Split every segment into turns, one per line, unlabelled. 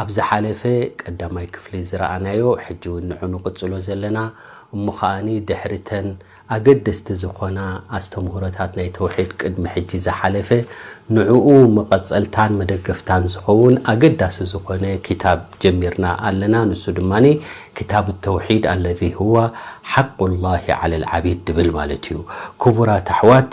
ኣብ ዝሓለፈ ቀዳማይ ክፍሊ ዝረኣናዮ ሕጂ ውን ንዑ ንቕጽሎ ዘለና እሞ ከኣ ድሕሪ ተን ኣገደስቲ ዝኾና ኣስተምህሮታት ናይ ተውሒድ ቅድሚ ሕጂ ዝሓለፈ ንዑኡ መቐጸልታን መደገፍታን ዝኸውን ኣገዳሲ ዝኾነ ክታብ ጀሚርና ኣለና ንሱ ድማ ክታብ ተውሒድ ኣለዚ ሁዋ ሓቁ ላሂ ዓለል ዓቢድ ድብል ማለት እዩ ክቡራት ኣሕዋት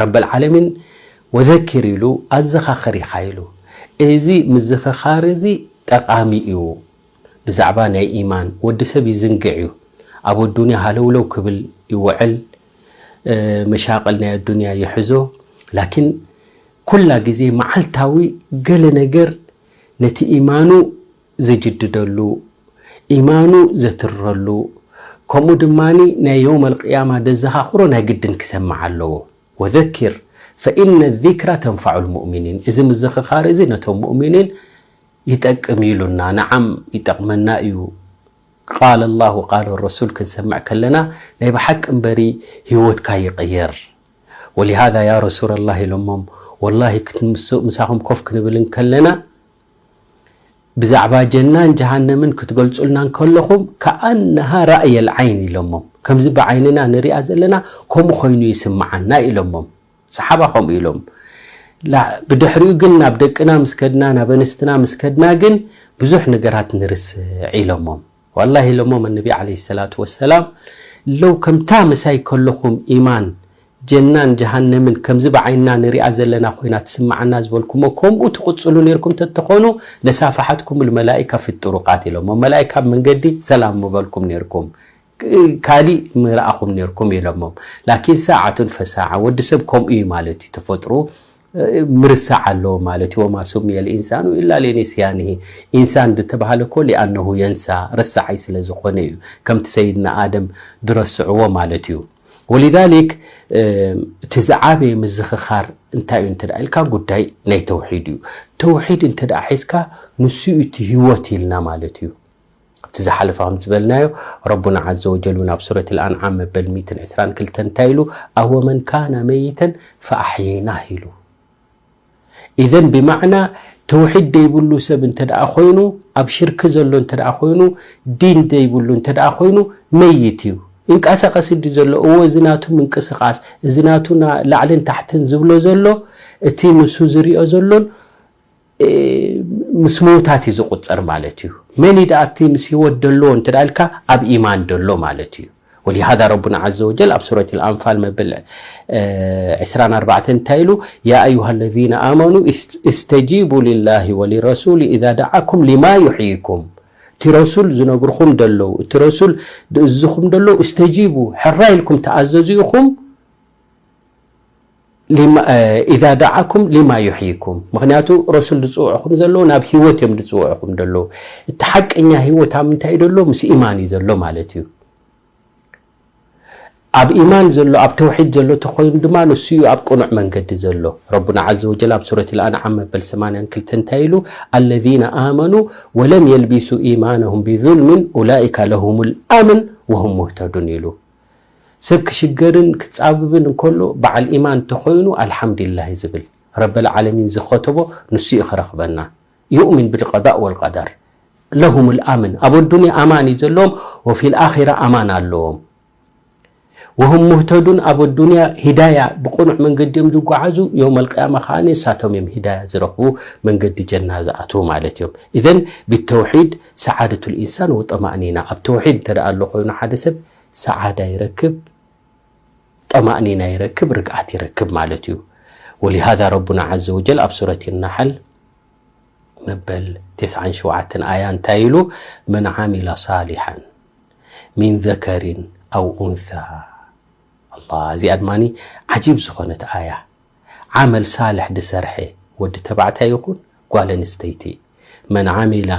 ረበልዓለሚን ወዘኪር ኢሉ ኣዘኻኽር ኢኻ ኢሉ። እዚ ምዝኽኻር እዚ ጠቓሚ እዩ። ብዛዕባ ናይ ኢማን ወዲ ሰብ ይዝንግዕ እዩ። ኣብ ኣዱንያ ሃለውለው ክብል ይውዕል። መሻቕል ናይ ኣዱንያ ይሕዞ። ላኪን ኩላ ግዜ መዓልታዊ ገለ ነገር ነቲ ኢማኑ ዝጅድደሉ፣ ኢማኑ ዘትርረሉ፣ ከምኡ ድማ ናይ የውም ኣልቅያማ ደዘኻኽሮ ናይ ግድን ክሰምዕ ኣለዎ። ወዘኪር ፈኢነ ዚክራ ተንፋዑል ሙእሚኒን፣ እዚ ምዝኽኻር እዚ ነቶም ሙእሚኒን ይጠቅም እዩ ኢሉና። ነዓም ይጠቕመና እዩ። ቃለ ላህ ወቃለ ረሱል ክንሰምዕ ከለና ናይ ብሓቂ እምበሪ ህይወትካ ይቕየር። ወሊሃዛ ያ ረሱለላህ ኢሎሞም ወላሂ ምሳኹም ኮፍ ክንብል እንከለና፣ ብዛዕባ ጀናን ጀሃነምን ክትገልጹልና እንከለኹም ከኣነሃ ራእየል ዓይን ኢሎሞም ከምዚ ብዓይንና ንሪኣ ዘለና ከምኡ ኮይኑ ይስምዓና ኢሎሞም ሰሓባ ከምኡ ኢሎም ብድሕሪኡ ግን ናብ ደቅና ምስ ከድና ናብ ኣንስትና ምስ ከድና ግን ብዙሕ ነገራት ንርስዕ ኢሎሞም ዋላሂ ኢሎሞም ኣንቢ ዓለይሂ ሰላቱ ወሰላም ሎው ከምታ ምሳይ ከሎኹም ኢማን፣ ጀናን ጀሃነምን ከምዚ ብዓይንና ንሪኣ ዘለና ኮይና ትስማዓና ዝበልኩሞ ከምኡ ትቕጽሉ ኔርኩም ተትኾኑ ለሳፋሓትኩሙል መላኢካ ፊ ጡሩቃት ኢሎሞም መላኢካ ኣብ መንገዲ ሰላም ምበልኩም ኔርኩም ካሊእ ምረኣኹም ኔርኩም ኢሎሞም ላኪን ሳዓቱን ፈሳዓ ወዲ ሰብ ከምኡ ኢዩ ማለት ኢዩ ተፈጥሩኡ ምርሳዕ ኣለዎ ማለት እዩ ወማ ሱምየ ልኢንሳኑ ኢላ ሊኒስያንሂ ኢንሳን ድተባህለ እኮ ሊኣነሁ የንሳ ረሳዓይ ስለ ዝኾነ እዩ ከምቲ ሰይድና ኣደም ድረስዕዎ ማለት እዩ ወሊዛሊክ እቲ ዝዓበየ ምዝኽኻር እንታይ እዩ እንተ ኢልካ ጉዳይ ናይ ተውሒድ እዩ ተውሒድ እንተ ሒዝካ ንሱ እዩ እቲ ህይወት ኢልና ማለት እዩ ኣብቲ ዝሓለፈ ከም ዝበልናዮ ረቡና ዓዘ ወጀል እውን ኣብ ሱረት ኣልኣንዓም መበል ሚእትን ዕስራን ክልተን እንታይ ኢሉ ኣወመን ካነ መይተን ፈኣሕየይናህ ኢሉ ኢዘን ብማዕና ተውሒድ ዘይብሉ ሰብ እንተ ደኣ ኮይኑ ኣብ ሽርኪ ዘሎ እንተ ደኣ ኮይኑ ዲን ዘይብሉ እንተ ደኣ ኮይኑ መይት እዩ እንቀሳቀስ ዲ ዘሎ እዎ እዚ ናቱ ምንቅስቃስ እዚ ናቱ ላዕልን ታሕትን ዝብሎ ዘሎ እቲ ንሱ ዝሪኦ ዘሎን ምስ ምውታት እዩ ዝቁጸር ማለት እዩ መን እዩ ደኣ እቲ ምስ ህይወት ደሎ እንተ ኢልካ ኣብ ኢማን ደሎ ማለት እዩ ወሊሃዳ ረቡና ዓዘ ወጀል ኣብ ሱረት ኣንፋል መበል ዕስራን ኣርባዕተን እንታይ ኢሉ ያ ኣዩሃ ለዚነ ኣመኑ እስተጂቡ ልላሂ ወሊረሱሊ ኢዛ ደዓኩም ሊማ ዩሕይኩም እቲ ረሱል ዝነግርኹም ደለዉ እቲ ረሱል ዝእዝኹም ደለዉ እስተጂቡ ሕራ ኢልኩም ተኣዘዙ ኢኹም ኢዛ ደዓኩም ሊማ ዩሕይኩም ምክንያቱ ረሱል ዝፅውዕኹም ዘለዉ ናብ ሂወት እዮም ዝፅውዕኹም ዘለዉ እቲ ሓቀኛ ሂወት ኣብ ምንታይ እዩ ዘሎ ምስ ኢማን እዩ ዘሎ ማለት እዩ ኣብ ኢማን ዘሎ ኣብ ተውሒድ ዘሎ ተኮይኑ ድማ ንሱ እዩ ኣብ ቅኑዕ መንገዲ ዘሎ ረቡና ዘ ወጀል ኣብ ሱረት ልኣንዓም መበል 82 እንታይ ኢሉ ኣለዚነ ኣመኑ ወለም የልቢሱ ኢማነሁም ብዙልምን ኡላይካ ለሁም ልኣምን ወሁም ሙህተዱን ኢሉ ሰብ ክሽገርን ክጻብብን እንከሎ በዓል ኢማን ተኾይኑ ኣልሓምዲላሂ ዝብል ረበል ዓለሚን ዝኸተቦ ንሱ እዩ ክረኽበና ዩእሚን ብልቀዳእ ወልቀደር ለሁሙል ኣምን ኣብ ኣዱንያ ኣማን እዩ ዘለዎም ወፊል ኣኺራ ኣማን ኣለዎም ወሁም ሙህተዱን ኣብ ኣዱንያ ሂዳያ ብቕኑዕ መንገዲ እዮም ዝጓዓዙ ዮም ኣልቅያማ ከዓ ንሳቶም እዮም ሂዳያ ዝረኽቡ መንገዲ ጀና ዝኣትዉ ማለት እዮም ኢዘን ብተውሒድ ሰዓደቱል ኢንሳን ወጠማእኒና ኣብ ተውሒድ እንተ ኣሎ ኮይኑ ሓደ ሰብ ሰዓዳ ይረክብ ጠማእኒና ይረክብ ርግኣት ይረክብ ማለት እዩ ወሊሃዛ ረቡና ዓዘ ወጀል ኣብ ሱረት ናሓል መበል ተስዓን ሸውዓተን ኣያ እንታይ ኢሉ መን ዓሚላ ሳሊሓን ሚን ዘከሪን ኣው ኡንሳ ኣላ እዚኣ ድማ ዓጂብ ዝኾነት ኣያ ዓመል ሳልሕ ድሰርሐ ወዲ ተባዕታይ ይኹን ጓል ኣንስተይቲ፣ መን ዓሚላ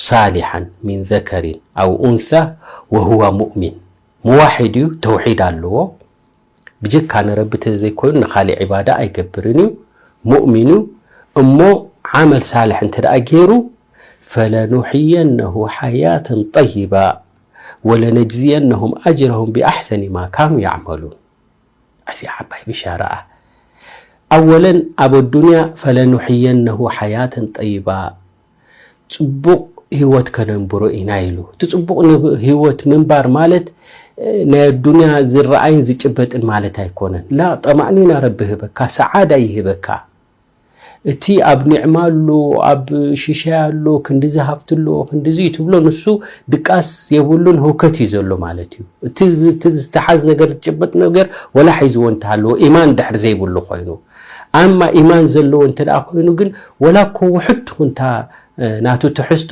ሳሊሓን ሚን ዘከሪን ኣው ኡንሳ ወሁዋ ሙእሚን፣ ሙዋሒድ እዩ ተውሒድ ኣለዎ ብጀካ ንረቢ ተዘይኮይኑ ንኻሊእ ዒባዳ ኣይገብርን እዩ ሙእሚን እዩ እሞ ዓመል ሳልሕ እንተደኣ ጌሩ ፈለኑሕየነሁ ሓያተን ጠይባ ወለነጅዝየነሁም ኣጅረሁም ብኣሕሰኒ ማ ካኑ ያዕመሉን ኣዚ ዓባይ ብሻራ እያ ኣወለን ኣብ ኣዱንያ ፈለኑሕየነሁ ሓያተን ጠይባ ጽቡቕ ሂወት ከነንብሮ ኢና ኢሉ እቲ ጽቡቕ ሂወት ምንባር ማለት ናይ ኣዱንያ ዝረኣይን ዝጭበጥን ማለት ኣይኮነን ላ ጠማእኒና ረቢ ህበካ ሰዓዳ ይህበካ እቲ ኣብ ኒዕማ ኣሎ ኣብ ሽሻይ ኣሎ ክንዲዚ ሃፍቲ ኣሎ ክንዲዚ እዩ ትብሎ ንሱ ድቃስ የብሉን ህውከት እዩ ዘሎ ማለት እዩ እቲ ዝተሓዝ ነገር ዝጭበጥ ነገር ወላ ሒዝዎ እንተሃለዎ ኢማን ድሕር ዘይብሉ ኮይኑ ኣማ ኢማን ዘለዎ እንተ ኮይኑ ግን ወላ እኮ ውሕድ ትኹንታ ናቱ ትሕዝቶ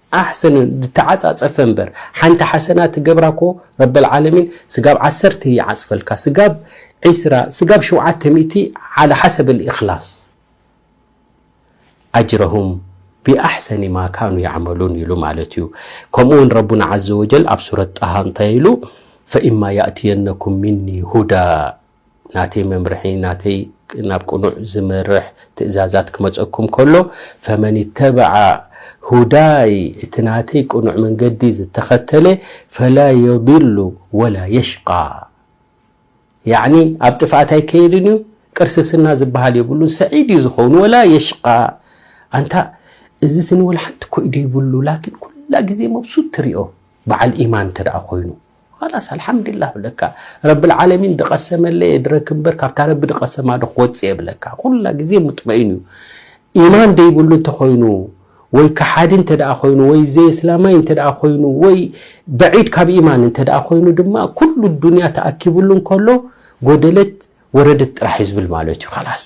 ኣሕሰን ድተዓጻጸፈ እምበር ሓንቲ ሓሰና ትገብራ እኮ ረበል ዓለሚን ስጋብ ዓሰርተ ይዓጽፈልካ ስጋብ ዒስራ ስጋብ ሸውዓተ ሚእቲ ዓላ ሓሰብ ኣልኢኽላስ ኣጅረሁም ቢኣሕሰኒ ማ ካኑ ያዕመሉን ኢሉ ማለት እዩ ከምኡ ውን ረቡና ዓዘ ወጀል ኣብ ሱረት ጣሃ እንታይ ኢሉ ፈኢማ ያእትየነኩም ሚኒ ሁዳ ናተይ መምርሒ ናተይ ናብ ቅኑዕ ዝመርሕ ትእዛዛት ክመጸኩም ከሎ ፈመን ይተበዓ ሁዳይ እቲ ናተይ ቅኑዕ መንገዲ ዝተኸተለ ፈላ የድሉ ወላ የሽቃ ያዕኒ ኣብ ጥፍኣት ኣይከየድን እዩ ቅርስስና ዝበሃል የብሉ ሰዒድ እዩ ዝኸውን ወላ የሽቃ ኣንታ እዚ ስኒ ወላ ሓንቲ ኮይ ዘይብሉ ላኪን ኩላ ግዜ መብሱት ትሪኦ በዓል ኢማን እንተ ኮይኑ ኻላስ ኣልሓምዲላ እብለካ ረብልዓለሚን ድቀሰመለይ እድረክ እምበር ካብታ ረቢ ድቀሰማ ዶ ክወፅእ እየ እብለካ ኩላ ግዜ ሙጥመኢን እዩ ኢማን ደይብሉ እንተኾይኑ ወይ ከሓዲ እንተደኣ ኮይኑ ወይ ዘየስላማይ እንተደኣ ኮይኑ ወይ በዒድ ካብ ኢማን እንተደኣ ኮይኑ ድማ ኩሉ ዱንያ ተኣኪብሉ እንከሎ ጎደለት ወረደት ጥራሕ እዩ ዝብል ማለት እዩ ኻላስ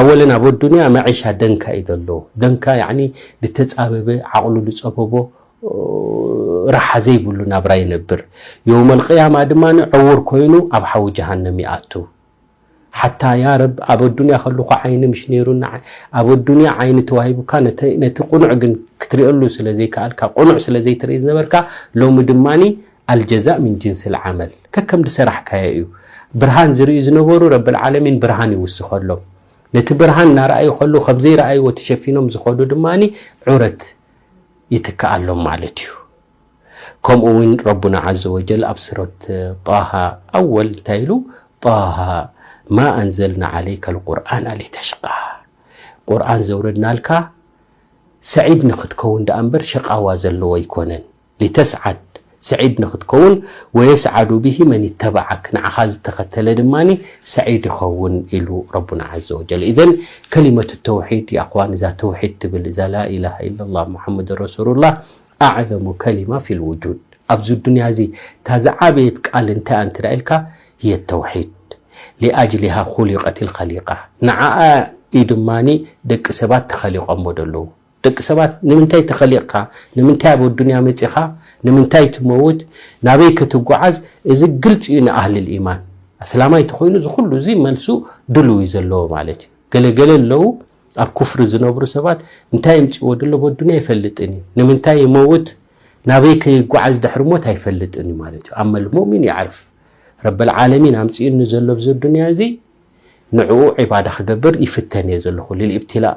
ኣወለን ኣብ ኣዱንያ መዒሻ ደንካ እዩ ዘሎ ደንካ ያኒ ልተጻበበ ዓቕሉ ልጸበቦ ራሓ ዘይብሉ ናብራ ይነብር የውመል ቅያማ ድማ ዕውር ኮይኑ ኣብ ሓዊ ጀሃነም ይኣቱ ሓታ ያ ረብ ኣብ ኣዱንያ ከለኹ ዓይኒ ምሽ ነይሩ ኣብ ኣዱንያ ዓይኒ ተዋሂቡካ ነቲ ቁኑዕ ግን ክትሪኦሉ ስለ ዘይከኣልካ ቁኑዕ ስለ ዘይትርኢ ዝነበርካ ሎሚ ድማ ኣልጀዛእ ምን ጅንስል ዓመል ከከም ድሰራሕካዮ እዩ ብርሃን ዝርእዩ ዝነበሩ ረብል ዓለሚን ብርሃን ይውስኸሎም ነቲ ብርሃን እናረኣዩ ከለዉ ከም ዘይረኣይዎ ተሸፊኖም ዝኸዱ ድማ ዑረት ይትክኣሎም ማለት እዩ ከምኡ እውን ረቡና ዓዘ ወጀል ኣብ ሱረት ጣሃ ኣወል እንታይ ኢሉ ጣሃ ማ ኣንዘልና ዓለይከ ልቁርኣን ኣሊተሽቃ ቁርኣን ዘውረድናልካ ሰዒድ ንክትከውን ደኣ እምበር ሸቃዋ ዘለዎ ኣይኮነን ሊተስዓድ ሰዒድ ንኽትከውን ወየስዓዱ ብሂ መን ይተበዓክ ንዓኻ ዝተኸተለ ድማ ሰዒድ ይኸውን ኢሉ ረቡና ዓዘ ወጀል ኢዘን ከሊመቱ ተውሒድ ያእኽዋን እዛ ተውሒድ ትብል እዛ ላኢላሃ ኢለላህ ሙሓመዱን ረሱሉላህ ኣዕዘሙ ከሊማ ፊል ውጁድ ኣብዚ ዱንያ እዚ እታ ዝዓበየት ቃል እንታይ እያ እንተ ኢልካ ህየ ተውሒድ ሊኣጅሊሃ ኹሊቀት ልኸሊቃ ንዓኣ እዩ ድማ ደቂ ሰባት ተኸሊቆሞ ዘለዉ ደቂ ሰባት ንምንታይ ተኸሊቕካ፣ ንምንታይ ኣብ ኣዱንያ መጺኻ፣ ንምንታይ ትመውት፣ ናበይ ከ ትጓዓዝ እዚ ግልጺ እዩ ንኣህልል ኢማን። ኣስላማይ ተኾይኑ እዚ ኩሉ እዚ መልሱ ድሉው እዩ ዘለዎ ማለት እዩ። ገለ ገለ ኣለዉ ኣብ ኩፍሪ ዝነብሩ ሰባት እንታይ ኣምጺእዎ ድሎ ኣብ ኣዱንያ ኣይፈልጥን እዩ። ንምንታይ ይመውት ናበይ ከ ይጓዓዝ ድሕሪ ሞት ኣይፈልጥን እዩ ማለት እዩ። ኣመል ሙእሚን የዕርፍ ረበል ዓለሚን ኣምጺኡኒ ዘሎ ኣብዚ ኣዱንያ እዚ ንዕኡ ዒባዳ ክገብር ይፍተን እየ ዘለኹ ሊልኢብትላእ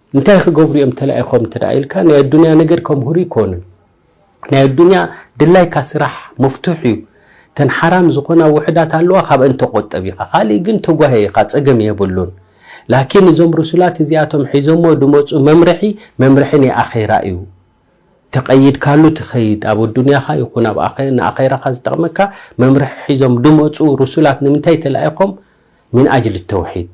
እንታይ ክገብሩ እዮም ተላኢኾም እንተ ኢልካ ናይ ኣዱንያ ነገር ከምህሩ ይኮኑን ናይ ኣዱንያ ድላይካ ስራሕ መፍቱሕ እዩ ተን ሓራም ዝኾና ውሕዳት ኣለዋ ካብአን ተቆጠብ ኢኻ ካልእ ግን ተጓየ ኢኻ ጸገም የብሉን ላኪን እዞም ርሱላት እዚኣቶም ሒዞሞ ድመጹ መምርሒ መምርሒ ናይ ኣኼራ እዩ ተቀይድካሉ ትኸይድ ኣብ ኣዱንያኻ ይኹን ኣብ ንኣኼራኻ ዝጠቕመካ መምርሒ ሒዞም ድመጹ ርሱላት ንምንታይ ተላኢኾም ምን ኣጅል ተውሒድ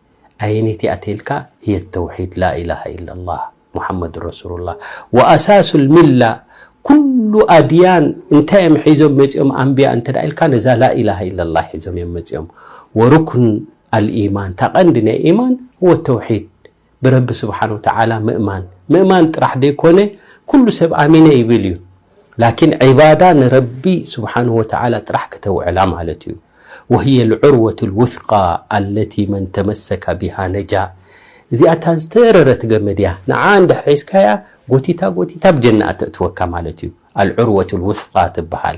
ኣየነይቲ እያ ተልካ ህየ ተውሒድ ላኢላሃ ኢላላህ ሙሓመድ ረሱሉላህ ወኣሳሱል ሚላ ኩሉ ኣድያን እንታይ እዮም ሒዞም መፂኦም ኣንቢያ እንተ ኢልካ ነዛ ላኢላሃ ኢላላህ ሒዞም እዮም መፂኦም ወሩክን ኣልኢማን እታ ቀንዲ ናይ ኢማን ህወ ተውሒድ ብረቢ ስብሓን ወተዓላ ምእማን ምእማን ጥራሕ ዘይኮነ ኩሉ ሰብ ኣሚነ ይብል እዩ ላኪን ዒባዳ ንረቢ ስብሓነሁ ወተዓላ ጥራሕ ክተውዕላ ማለት እዩ። ወህየ ልዑርወቱ ልውስቃ ኣለቲ መን ተመሰከ ቢሃ ነጃ እዚኣ እታ ዝተረረት ገመድ እያ ንዓ እንድሕር ሒዝካያ ጎቲታ ጎቲታ ኣብ ጀና እተእትወካ ማለት እዩ። ኣልዑርወቱ ልውስቃ ትበሃል።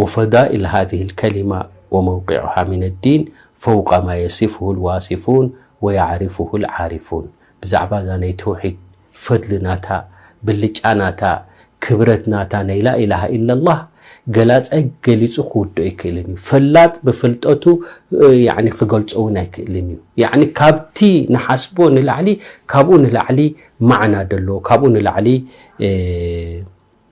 ወፈዳኢል ሃዚህ ኣልከሊማ ወመውቂዑሃ ሚነ ዲን ፈውቀ ማ የሲፍሁ ኣልዋሲፉን ወየዕሪፍሁ ኣልዓሪፉን ብዛዕባ እዛ ናይ ተውሒድ ፈድሊ ናታ፣ ብልጫ ናታ፣ ክብረት ናታ ናይ ላኢላሃ ኢለላህ ገላጻይ ገሊጹ ክውድኦ ኣይክእልን እዩ። ፈላጥ ብፍልጠቱ ክገልጾ እውን ኣይክእልን እዩ። ያዕኒ ካብቲ ንሓስቦ ንላዕሊ ካብኡ ንላዕሊ ማዕና ደለዎ ካብኡ ንላዕሊ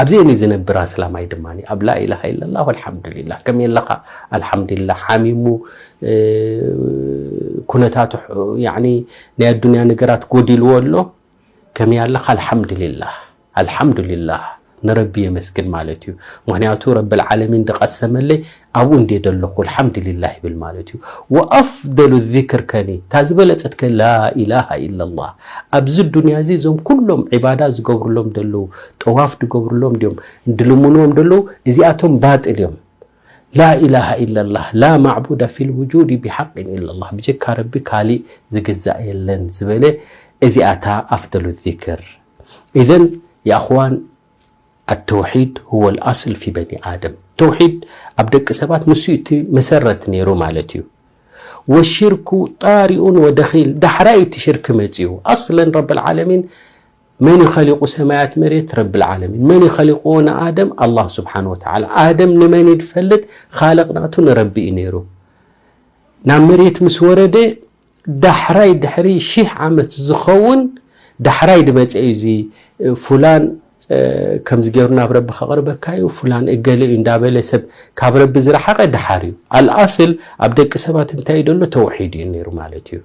ኣብዚ እኒ ዝነብር ኣስላማይ ድማ ኣብ ላኢላሃ ኢለላህ ወልሓምዱሊላህ ከመየለኻ ኣልሓምዱሊላህ ሓሚሙ ኩነታቱ ናይ ኣዱንያ ነገራት ጎዲልዎ ኣሎ ከመይ ኣለኻ ኣልሓምዱሊላህ ኣልሓምዱሊላህ ንረቢ የመስግን ማለት እዩ ምክንያቱ ረብልዓለሚን ዝቐሰመለይ ኣብኡ እንድየ ደለኹ ኣልሓምድሊላህ ይብል ማለት እዩ። ወኣፍደሉ ዚክር ከኒ እታ ዝበለጸት ከ ላኢላሃ ኢለላህ ኣብዚ ዱንያ እዚ እዞም ኩሎም ዒባዳ ዝገብርሎም ደለዉ ጠዋፍ ድገብርሎም ድዮም ድልምንዎም ደለዉ እዚኣቶም ባጥል እዮም ላኢላሃ ኢለላህ ላ ማዕቡደ ፊል ውጁድ ብሓቅን ኢለላህ ብጀካ ረቢ ካሊእ ዝግዛእ የለን ዝበለ እዚኣታ ኣፍደሉ ዚክር ኢዘን የኣኽዋን ኣተውሒድ ሁወል ኣስል ፊ በኒ ኣደም ተውሒድ ኣብ ደቂ ሰባት ንሱ እዩ እቲ መሰረት ነይሩ ማለት እዩ ወሽርኩ ጣሪኡን ወደኺል ዳሕራይ እቲ ሽርኪ መፅኡ ኣስለን ረብልዓለሚን መን እዩ ኸሊቁ ሰማያት መሬት ረብልዓለሚን መን እዩ ኸሊቁዎ ንኣደም ኣላሁ ስብሓን ወተዓላ ኣደም ንመን እዩ ዝፈልጥ ኻልቅ ናቱ ንረቢ እዩ ነይሩ ናብ መሬት ምስ ወረደ ዳሕራይ ድሕሪ ሺሕ ዓመት ዝኸውን ዳሕራይ ድመፀ እዩ እዚ ፉላን ከምዚ ገይሩ ናብ ረቢ ከቕርበካ እዩ ፉላን እገለ እዩ እንዳበለ ሰብ ካብ ረቢ ዝረሓቐ ድሓር እዩ ኣልኣስል ኣብ ደቂ ሰባት እንታይ እዩ ደሎ ተውሒድ እዩ ነይሩ ማለት እዩ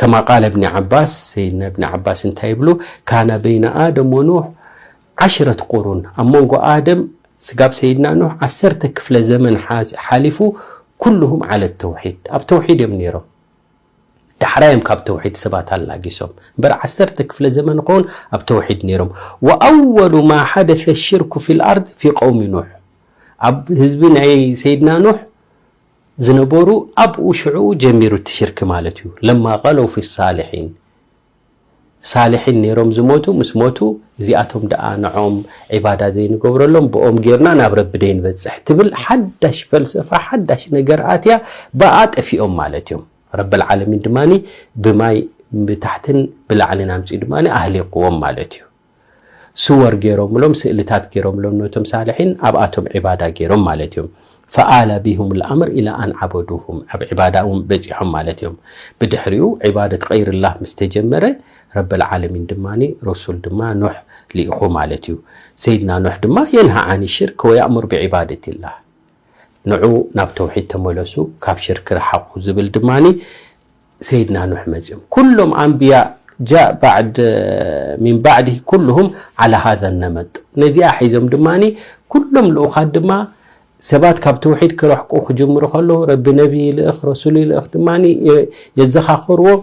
ከማ ቃለ እብኒ ዓባስ ሰይድና እብኒ ዓባስ እንታይ ይብሉ ካነ በይነ ኣደም ወኑሕ ዓሽረት ቁሩን፣ ኣብ መንጎ ኣደም ስጋብ ሰይድና ኑህ ዓሰርተ ክፍለ ዘመን ሓሊፉ፣ ኩሉሁም ዓለት ተውሒድ፣ ኣብ ተውሒድ እዮም ነይሮም። ዳሕራይ እዮም ካብ ተውሒድ ሰባት ኣላጊሶም፣ እምበር ዓሰርተ ክፍለ ዘመን ኾውን ኣብ ተውሒድ ነይሮም። ወኣወሉ ማ ሓደሰ ሽርኩ ፊል ኣርድ ፊ ቀውሚ ኑህ፣ ኣብ ህዝቢ ናይ ሰይድና ኑህ ዝነበሩ ኣብኡ ሽዕኡ ጀሚሩ እቲ ሽርኪ ማለት እዩ። ለማ ቐለው ፊ ሳሊሒን ሳልሒን ኔሮም ዝሞቱ ምስ ሞቱ እዚኣቶም ደኣ ንዖም ዒባዳ ዘይንገብረሎም ብኦም ጌርና ናብ ረቢ ደይንበጽሕ ትብል ሓዳሽ ፈልሰፋ ሓዳሽ ነገር ኣትያ ብኣ ጠፊኦም ማለት እዮም ረብልዓለሚን ድማ ብማይ ብታሕትን ብላዕልን ኣምጺኡ ድማ ኣህሊቅዎም ማለት እዩ ሱወር ገይሮምሎም ስእልታት ገይሮምሎም ነቶም ሳልሒን ኣብኣቶም ዒባዳ ገይሮም ማለት እዮም ፈኣለ ቢሁም ልኣምር ኢላ ኣን ዓበዱሁም ኣብ ዒባዳእውን በፂሖም ማለት እዮም ብድሕሪኡ ዒባደት ቀይርላህ ምስ ተጀመረ ረበልዓለሚን ድማ ረሱል ድማ ኖሕ ልኢኹ ማለት እዩ ሰይድና ኖሕ ድማ የንሃ ዓን ሽርክ ወያእሙር ብዒባደት ላህ ንዑ ናብ ተውሒድ ተመለሱ ካብ ሽርክ ረሓቑ ዝብል ድማ ሰይድና ኑሕ መጭም ኩሎም ኣንብያ ጃእ ባዕድ ሚን ባዕድ ኩሉሁም ዓላ ሃዘ ነመጥ ነዚኣ ሒዞም ድማ ኩሎም ልኡኻት ድማ ሰባት ካብ ተውሒድ ክረሕቁ ክጅምሩ ከለዉ ረቢ ነቢ ይልእኽ ረሱሉ ይልእኽ ድማ የዘኻኽርዎም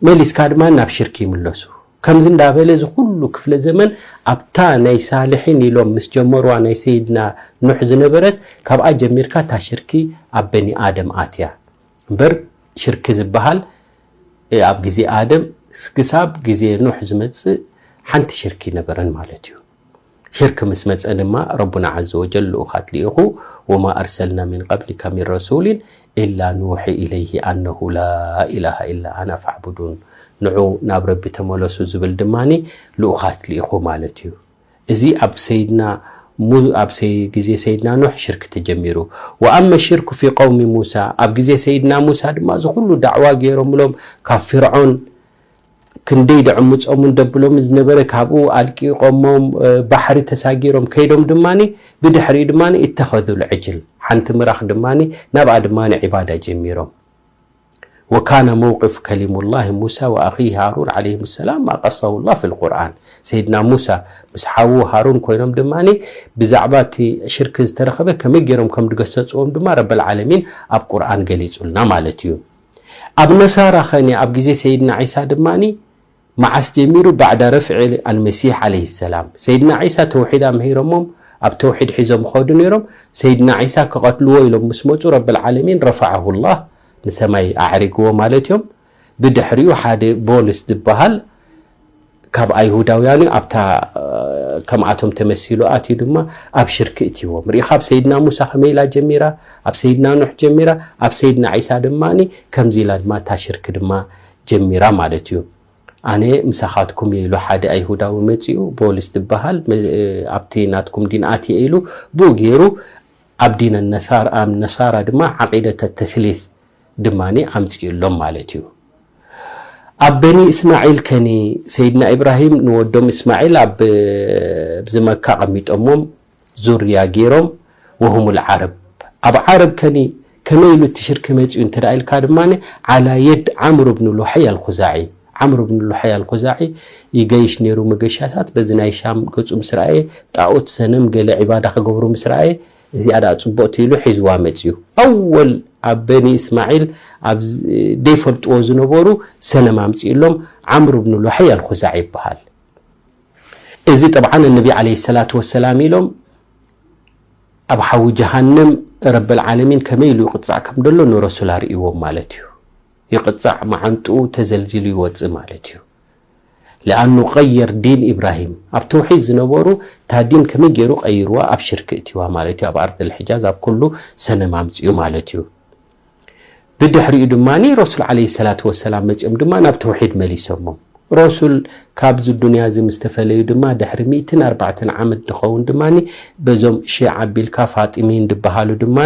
መሊስካ ድማ ናብ ሽርክ ይምለሱ ከምዚ እንዳበለ እዚ ኩሉ ክፍለ ዘመን ኣብታ ናይ ሳልሒን ኢሎም ምስ ጀመርዋ ናይ ሰይድና ኑሕ ዝነበረት ካብኣ ጀሚርካ እታ ሽርኪ ኣብ በኒ ኣደም ኣትያ እምበር ሽርኪ ዝብሃል ኣብ ግዜ ኣደም ክሳብ ግዜ ኑሕ ዝመጽእ ሓንቲ ሽርኪ ኣይነበረን ማለት እዩ። ሽርኪ ምስ መጸ ድማ ረቡና ዓዘወጀል ልኡኻት ልኢኹ ወማ ኣርሰልና ሚን ቀብሊካ ሚን ረሱሊን ኢላ ኑውሒ ኢለይሂ ኣነሁ ላኢላሃ ኢላ ኣና ፋዕቡዱን ንዑ ናብ ረቢ ተመለሱ ዝብል ድማ ልኡኻት ልኢኹ ማለት እዩ። እዚ ኣብ ሰይድና ሙ ኣብ ሰይ ግዜ ሰይድና ኑሕ ሽርክ ተጀሚሩ ወኣመ ሽርኩ ፊ ቀውሚ ሙሳ ኣብ ግዜ ሰይድና ሙሳ ድማ እዚ ኩሉ ዳዕዋ ጌሮምሎም ካብ ፊርዖን ክንደይ ደዕምጾምን ደብሎምን ዝነበረ ካብኡ ኣልቂቆሞም ባሕሪ ተሳጊሮም ከይዶም ድማ ብድሕሪኡ ድማ እተኸዙ ልዕጅል ሓንቲ ምራኽ ድማ ናብኣ ድማ ዒባዳ ጀሚሮም ወካነ መውቅፍ ከሊሙላሂ ሙሳ ወኣኺሂ ሃሩን ዓለይሂም ሰላም ማ ቀሰሁላህ ፊል ቁርኣን ሰይድና ሙሳ ምስ ሓዉ ሃሩን ኮይኖም ድማ ብዛዕባ እቲ ሽርክ ዝተረኸበ ከመይ ገይሮም ከም ድገሰጽዎም ድማ ረበል ዓለሚን ኣብ ቁርኣን ገሊጹልና ማለት እዩ ኣብ ነሳራ ኸኒ ኣብ ግዜ ሰይድና ዒሳ ድማ መዓስ ጀሚሩ ባዕዳ ረፍዒ ኣልመሲሕ ዓለይሂ ሰላም ሰይድና ዒሳ ተውሒድ ኣምሂሮሞም ኣብ ተውሒድ ሒዞም ይኸዱ ነይሮም ሰይድና ዒሳ ክቐትልዎ ኢሎም ምስ መጹ ረብል ዓለሚን ረፈዐሁ ላህ ንሰማይ ኣዕሪግዎ ማለት እዮም ብድሕሪኡ ሓደ ቦልስ ዝበሃል ካብ ኣይሁዳውያን እዩ ኣብታ ከምኣቶም ተመሲሉ ኣትዩ ድማ ኣብ ሽርክ እትይዎም ርኢኻ ኣብ ሰይድና ሙሳ ከመይ ኢላ ጀሚራ ኣብ ሰይድና ኑሕ ጀሚራ ኣብ ሰይድና ዒሳ ድማ ከምዚ ኢላ ድማ እታ ሽርክ ድማ ጀሚራ ማለት እዩ ኣነ ምሳኻትኩም እየ ኢሉ ሓደ ኣይሁዳዊ መጺኡ ቦልስ ዝበሃል ኣብቲ ናትኩም ዲን ኣትየ ኢሉ ብኡ ገይሩ ኣብ ዲን ነሳራ ድማ ዓቂደተ ተስሊት ድማ ኣምጺኡሎም ማለት እዩ ኣብ በኒ እስማዒል ከኒ ሰይድና ኢብራሂም ንወዶም እስማዒል ኣብዚ መካ ኣቐሚጦሞም ዙርያ ገይሮም ወሁሙል ዓረብ ኣብ ዓረብ ከኒ ከመይ ኢሉ እቲ ሽርኪ መፂኡ እንተ ኢልካ ድማ ዓላ የድ ዓምሩ ብን ሉሓይ ኣልኹዛዒ ዓምሩ ብን ሉሓይ ኣልኹዛዒ ይገይሽ ነይሩ መገሻታት በዚ ናይ ሻም ገፁ ምስ ረኣየ ጣኦት ሰነም ገለ ዒባዳ ክገብሩ ምስ ረኣየ እዚኣ ደኣ ፅቡቕቲ ኢሉ ሒዝዋ መፅዩ ኣወል ኣብ በኒ እስማዒል ኣብ ዘይፈልጥዎ ዝነበሩ ሰነም ኣምፅእሎም ዓምሩ ብን ሉሓይ ኣልኹዛዒ ይበሃል እዚ ጠብዓን እነቢ ዓለይሂ ሰላቱ ወሰላም ኢሎም ኣብ ሓዊ ጀሃንም ረበል ዓለሚን ከመይ ኢሉ ይቕጻዕ ከም ደሎ ንረሱል ኣርእይዎም ማለት እዩ። ይቕጻዕ መዓንጥኡ ተዘልዚሉ ይወጽእ ማለት እዩ። ለኣኑ ቀየር ዲን ኢብራሂም ኣብ ተውሒድ ዝነበሩ እታ ዲን ከመይ ገይሩ ቀይርዋ ኣብ ሽርክ እትዋ ማለት እዩ። ኣብ ኣርድል ሕጃዝ ኣብ ኩሉ ሰነም ኣምጽኡ ማለት እዩ። ብድሕሪኡ ድማ ረሱል ዓለይሂ ሰላቱ ወሰላም መጺኦም ድማ ናብ ተውሒድ መሊሶሞም። ረሱል ካብዚ ዱንያ እዚ ምስ ተፈለዩ ድማ ድሕሪ ሚእትን ኣርባዕተን ዓመት ዝኸውን ድማ በዞም ሺዓ ኣቢልካ ፋጢሚይን ዝበሃሉ ድማ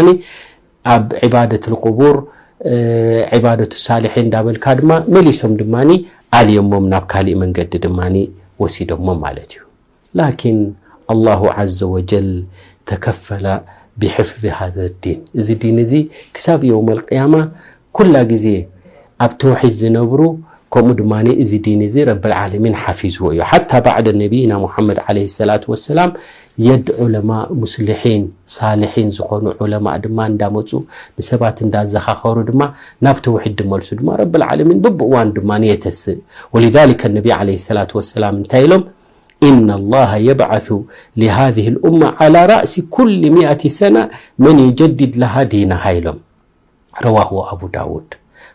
ኣብ ዒባደቱል ቁቡር ዒባደቱ ሳሊሒን እንዳበልካ ድማ መሊሶም ድማ ኣልዮሞም ናብ ካሊእ መንገዲ ድማ ወሲዶሞም ማለት እዩ። ላኪን ኣላሁ ዓዘወጀል ተከፈለ ቢሕፍዚ ሃዘ ዲን እዚ ዲን እዚ ክሳብ የውመል ቅያማ ኩላ ግዜ ኣብ ተውሒድ ዝነብሩ ከምኡ ድማ እዚ ዲን እዚ ረበል ዓለሚን ሓፊዝዎ እዩ ሓታ ባዕደ ነቢይና ሙሓመድ ዓለይሂ ሰላቱ ወሰላም የድ ዑለማ ሙስሊሒን ሳሊሒን ዝኾኑ ዑለማእ ድማ እንዳመፁ ንሰባት እንዳዘኻኸሩ ድማ ናብ ተውሒድ ድመልሱ ድማ ረበል ዓለሚን ብብእዋን ድማ የተስእ ወሊዛሊከ ነቢ ዓለይሂ ሰላቱ ወሰላም እንታይ ኢሎም ኢነላሀ የብዐሱ ሊሀዚህ ልኡማ ዐላ ረእሲ ኩሊ ሚኣቲ ሰነ መን ዩጀዲድ ለሃ ዲነሃ ኢሎም። ረዋሁ ኣቡ ዳውድ።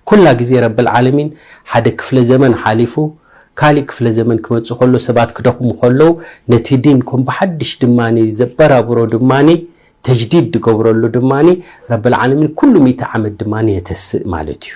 ኩላ ግዜ ረብል ዓለሚን ሓደ ክፍለ ዘመን ሓሊፉ ካሊእ ክፍለ ዘመን ክመጽእ ከሎ ሰባት ክደኽሙ ከለው ነቲ ዲን ከም ብሓድሽ ድማ ዘበራብሮ ድማ ተጅዲድ ዝገብረሉ ድማ ረብል ዓለሚን ኩሉ ሚእቲ ዓመት ድማ የተስእ ማለት እዩ።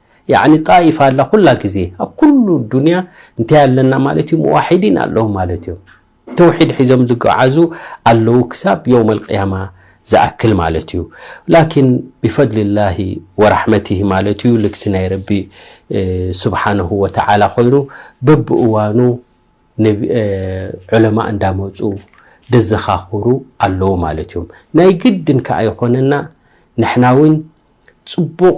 ያዕኒ ጣኢፋ ኣላ ኩላ ግዜ ኣብ ኩሉ ዱንያ እንታይ ኣለና ማለት እዩ ሙዋሒዲን ኣለዉ ማለት እዮም ተውሒድ ሒዞም ዝጓዓዙ ኣለዉ ክሳብ የውም ኣልቅያማ ዝኣክል ማለት እዩ ላኪን ብፈድልላሂ ወራሕመትሂ ማለት እዩ ልግሲ ናይ ረቢ ስብሓነሁ ወተዓላ ኮይኑ በብእዋኑ ዑለማ እንዳመፁ ደዘኻኽሩ ኣለዉ ማለት እዮም ናይ ግድን ከዓ ይኾነና ንሕና እውን ፅቡቕ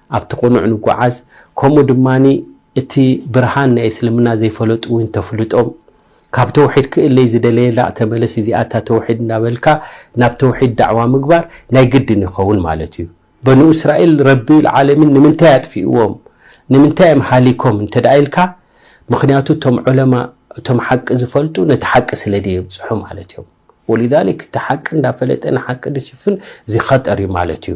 ኣብቲ ቅኑዕ ንጉዓዝ ከምኡ ድማ እቲ ብርሃን ናይ እስልምና ዘይፈለጡ ውን ተፍልጦም ካብ ተውሒድ ክእለይ ዝደለየ ላእ ተመለስ እዚኣ እታ ተውሒድ እንዳበልካ ናብ ተውሒድ ዳዕዋ ምግባር ናይ ግድን ይኸውን ማለት እዩ በኑ እስራኤል ረቢ ልዓለሚን ንምንታይ ኣጥፊእዎም ንምንታይ እዮም ሃሊኮም እንተ ኢልካ ምክንያቱ እቶም ዑለማ እቶም ሓቂ ዝፈልጡ ነቲ ሓቂ ስለ ደየብፅሑ ማለት እዮም ወሊዛሊክ እቲ ሓቂ እንዳፈለጠ ንሓቂ ድሽፍን እዚ ኸጠር እዩ ማለት እዩ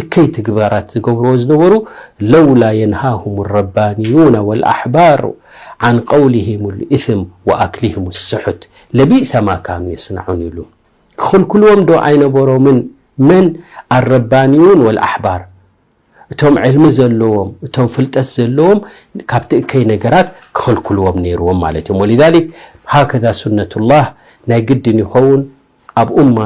እከይ ትግባራት ዝገብርዎ ዝነበሩ ለውላ የንሃሁም ረባንዩነ ወልኣሕባሩ ዓን ቀውሊሂም ልእስም ወኣክሊሂም ስሑት ለቢእሰ ማ ካኑ የስናዑን ኢሉ። ክኽልክልዎም ዶ ኣይነበሮምን መን ኣረባንዩን ወልኣሕባር እቶም ዕልሚ ዘለዎም እቶም ፍልጠት ዘለዎም ካብቲ እከይ ነገራት ክኽልክልዎም ነይርዎም ማለት እዮም ወሊዛሊክ ሃከዛ ሱነቱላህ ናይ ግድን ይኸውን ኣብ ኡማ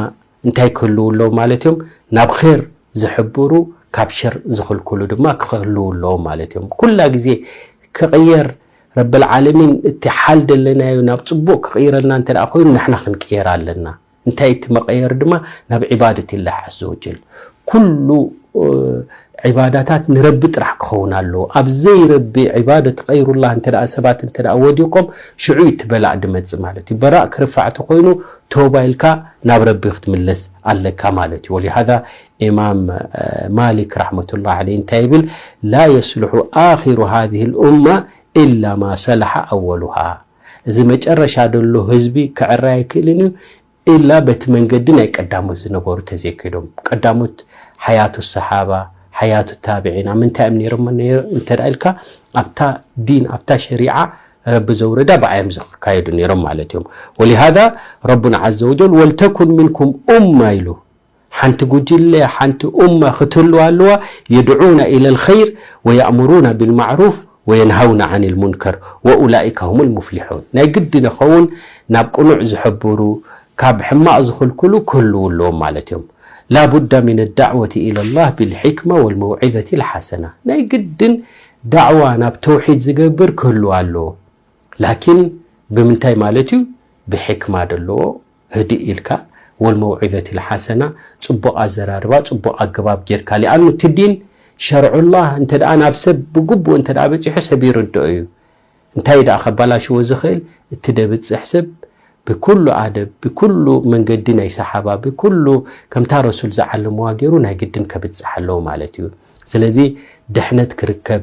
እንታይ ክህልዉ ኣለዎም ማለት እዮም? ናብ ኼር ዝሕብሩ ካብ ሸር ዝኽልክሉ ድማ ክህልዉ ኣለዎም ማለት እዮም። ኩላ ግዜ ክቕየር ረብልዓለሚን እቲ ሓል ደለናዮ ናብ ጽቡቕ ክቕይረልና እንተ ኮይኑ ንሕና ክንቅየር ኣለና። እንታይ እቲ መቐየሪ ድማ ናብ ዒባደትላህ ዓዘወጀል ኩሉ ዒባዳታት ንረቢ ጥራሕ ክኸውን ኣለዎ። ኣብ ዘይረቢ ዒባደት ገይሩላህ እንተደኣ ሰባት እንተደኣ ወዲቆም ሽዑ እዩ እቲ በላእ ድመጽእ ማለት እዩ። በራእ ክርፋዕ ተኾይኑ ተውባ ኢልካ ናብ ረቢ ክትምለስ ኣለካ ማለት እዩ። ወሊሃዛ ኢማም ማሊክ ራሕመቱላህ ዓለይህ እንታይ ይብል ላ የስልሑ ኣኺሩ ሃዚህ ልኡማ ኢላ ማ ሰላሓ ኣወሉሃ እዚ መጨረሻ ደሎ ህዝቢ ክዕረ ኣይክእልን እዩ ኢላ በቲ መንገዲ ናይ ቀዳሞት ዝነበሩ ተዘይከይዶም ቀዳሞት ሓያቱ ሰሓባ ሓያቱ ታብዒን ኣብ ምንታይ እዮም ነይሮም እንተ ኢልካ ኣብታ ዲን ኣብታ ሸሪዓ ረቢ ዘውረዳ ብኣዮም ዝካየዱ ነይሮም ማለት እዮም ወሊሃዛ ረቡና ዓዘ ወጀል ወልተኩን ሚንኩም ኡማ ኢሉ ሓንቲ ጉጅለ ሓንቲ ኡማ ክትህልው ኣለዋ የድዑና ኢለል ኸይር ወየእሙሩና ቢልማዕሩፍ ወየንሃውና ዓኒል ሙንከር ወኡላኢከ ሁሙል ሙፍሊሑን ናይ ግድን የኸውን ናብ ቅኑዕ ዝሕብሩ ካብ ሕማቕ ዝኽልክሉ ክህልው ኣለዎም ማለት እዮም ላቡዳ ሚነ ዳዕወቲ ኢለላህ ቢልሒክማ ወልመውዒዘቲል ሓሰና ናይ ግድን ዳዕዋ ናብ ተውሒድ ዝገብር ክህልው ኣለዎ ላኪን ብምንታይ ማለት እዩ ብሕክማ ደለዎ ህድእ ኢልካ ወልመውዒዘቲ ልሓሰና ጽቡቕ ኣዘራርባ ጽቡቕ ኣገባብ ጌርካ ሊኣኑ እቲ ዲን ሸርዑላህ እንተ ናብ ሰብ ብግቡእ እንተ በጺሑ ሰብ ይርድኦ እዩ እንታይ ደኣ ከባላሽዎ ዝኽእል እቲ ደብጽሕ ሰብ ብኩሉ ኣደብ ብኩሉ መንገዲ ናይ ሰሓባ ብኩሉ ከምታ ረሱል ዝዓለምዋ ገይሩ ናይ ግድን ከብጽሕ ኣለዎ ማለት እዩ ስለዚ ድሕነት ክርከብ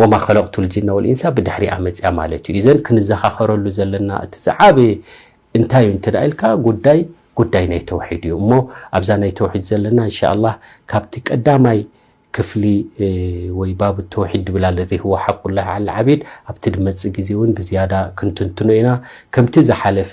ወማ ኸለቅቱል ጅነ ወልኢንሳ ብድሕሪኣ መጺኣ ማለት እዩ። ኢዘን ክንዘኻኸረሉ ዘለና እቲ ዝዓበየ እንታይ እዩ እንተ ኢልካ ጉዳይ ጉዳይ ናይ ተውሒድ እዩ እሞ ኣብዛ ናይ ተውሒድ ዘለና እንሻላህ ካብቲ ቀዳማይ ክፍሊ ወይ ባብ ተውሒድ ድብል ኣለዚ ህወ ሓቁላህ ዓል ዓቢድ ኣብቲ ድመጽእ ግዜ እውን ብዝያዳ ክንትንትኖ ኢና ከምቲ ዝሓለፈ